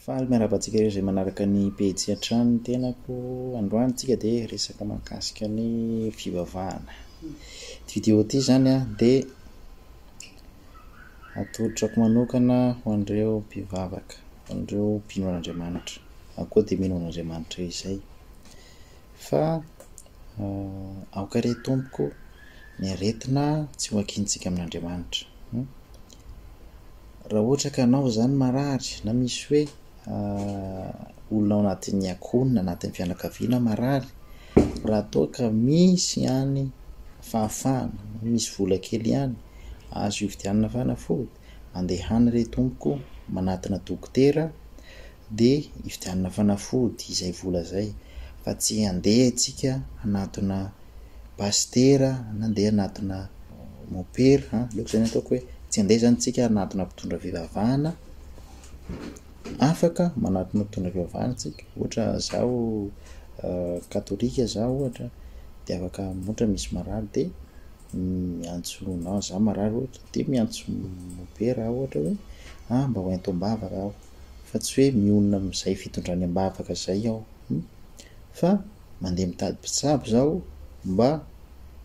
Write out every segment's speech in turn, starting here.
Faly miarahaba antsika ireo izay manaraka ny pejy hatrany ny tenako. Androany tsika dia resaka mahakasika ny fivavahana. Ity video ity izany dia atolotrako manokana ho an'ireo mpivavaka, ho an'ireo mpino an'Andriamanitra, na koa dia mino an'Andriamanitra izay. Fa eh, aoka re tompoko ny aretina tsy ho akintsika amin'Andriamanitra. Hmm? Raha ohatra ka anao izany marary na misy hoe olona ao anatin'ny akoho na anatin'ny fianakaviana marary, raha toa ka misy ihany fahafahana, misy vola kely ihany azo hividianana fanafody, andehana re tompoko manatona dokotera dia hividianana fanafody izay vola izay fa tsy handeha isika hanatona pasitera na handeha hanatona mopera an, aleoko izany ataoko hoe tsy handeha izany isika hanatona mpitondra fivavahana, afaka manatona mpitondra fivavahana isika, ohatra zaho katolika zaho ohatra dia afaka ohatra misy marary dia miantso na zaho marary ohatra dia miantso mopera aho ohatra hoe ah mba ho ento am-bavaka aho. fa tsy hoe mionona amin'izay fitondrany am-bavaka izay aho hum fa mandeha mitady mpitsabo izaho mba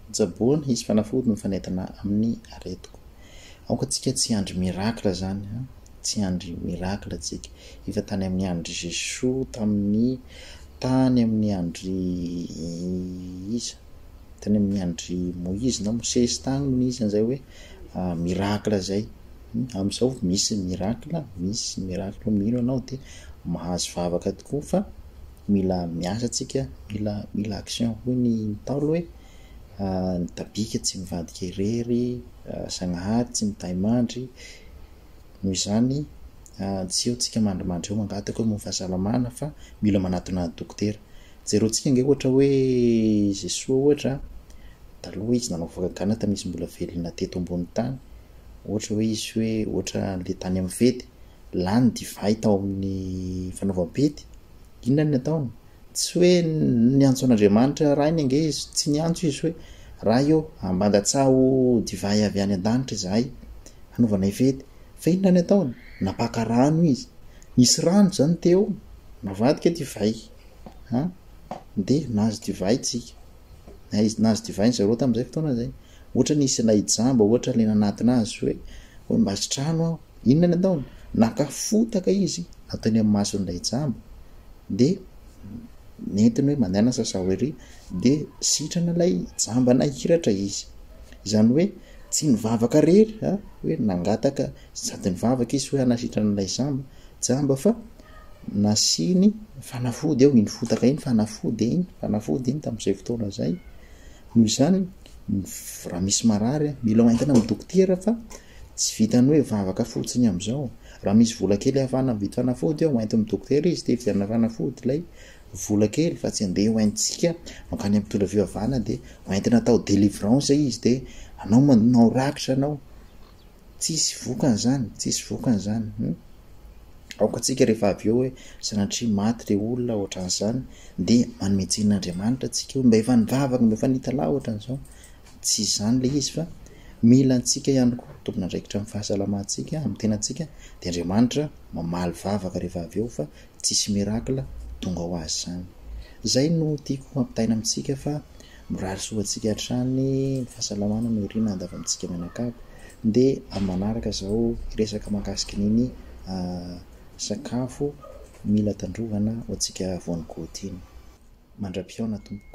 hotsaboana hisy fanafody mifanentana amin'ny aretiko aoka tsika tsy handry miracle zany ha tsy handry miracle tsika efa tany amin'ny andry Jesoa tamin'ny tany amin'ny andry iza tany amin'ny andry Moizy na Mosesy tany no nisy an'izay hoe miracle izay Amin'izao misy miracle, misy miracle mino anao dia mahazo vavaka tokoa fa mila miasa tsika, mila mila action hoy ny Ntaolo hoe ny tabika tsy mivadika irery, Zagnahary tsy mitahy mandry, noho izany tsy eo tsika mandrimandry eo mangataka hoe momba fahasalamana fa mila manatona dokotera. Jereo tsika nge ohatra hoe Jesoa ohatra, taloha izy nanao vavaka gana tamisy mbola velona teto ambony tany, ohatra hoe izy hoe ohatra andeha tany amin'ny fety, lany divay tao amin'ny fanaovam-pety, inona no ataony? Tsy hoe niantso an'Andriamanitra rainy ange izy, tsy niantso izy hoe Ray ô, ambandatsaho divay avy any an-danitra izahay hanaovanay fety. Fa inona no ataony? Napaka rano izy. Nisy rano izany teo, navadika divay. Dia nahazo divay isika. Nahazo divay zareo tamin'izay fotoana izay. Ohatra nisy ilay jamba ohatra ilay nanatona azy hoe hoe mba sitrano aho. Inona ny ataony? Naka fotaka izy ato eny amin'ny mason'ilay jamba dia nentiny hoe mandehanana sasao ery dia sitrana ilay jamba nahiratra izy. Izany hoe tsy nivavaka rery a hoe nangataka sady nivavaka izy hoe hanasitrana ilay jamba jamba fa nasiany fanafody eo iny fotaka iny fanafody iny fanafody iny tamin'izay fotoana izay Noho izany, raha misy marary, mila hoentina amin'ny dokotera fa tsy vitan'ny hoe vavaka fotsiny amin'izao. Raha misy vola kely ahafahana mividy fanafody, ho entin'ny dokotera izy dia hividianana fanafody ilay vola kely fa tsy handeha ho entintsika mankany amin'ny mpitondra fivavahana dia ho entina atao délivrance izy dia anao manao rakitra anao. Tsisy vokany zany, tsisy vokany zany hum. Aoka tsika rehefa avy eo hoe sanatria maty le olona ohatran'izany de manome tsiny an'Andriamanitra tsika hoe mba efa nivavaka mba efa nitalaho ohatran'izao. Tsy izany le izy fa mila antsika ihany koa tompon'andraikitra amin'ny fahasalamantsika, amin'ny tenantsika de Andriamanitra mamaly vavaka rehefa avy eo fa tsisy miracle tonga ho azy zany. Zay no tiako hampitaina amintsika fa Mirary soa ho antsika hatrany ny fahasalamana no irina andavy amintsika mianakavy dia amin'ny manaraka izao hiresaka mahakasika an'iny sakafo mila tandrovana ho antsika voangoty iny. Mandra-pihaona tompoko.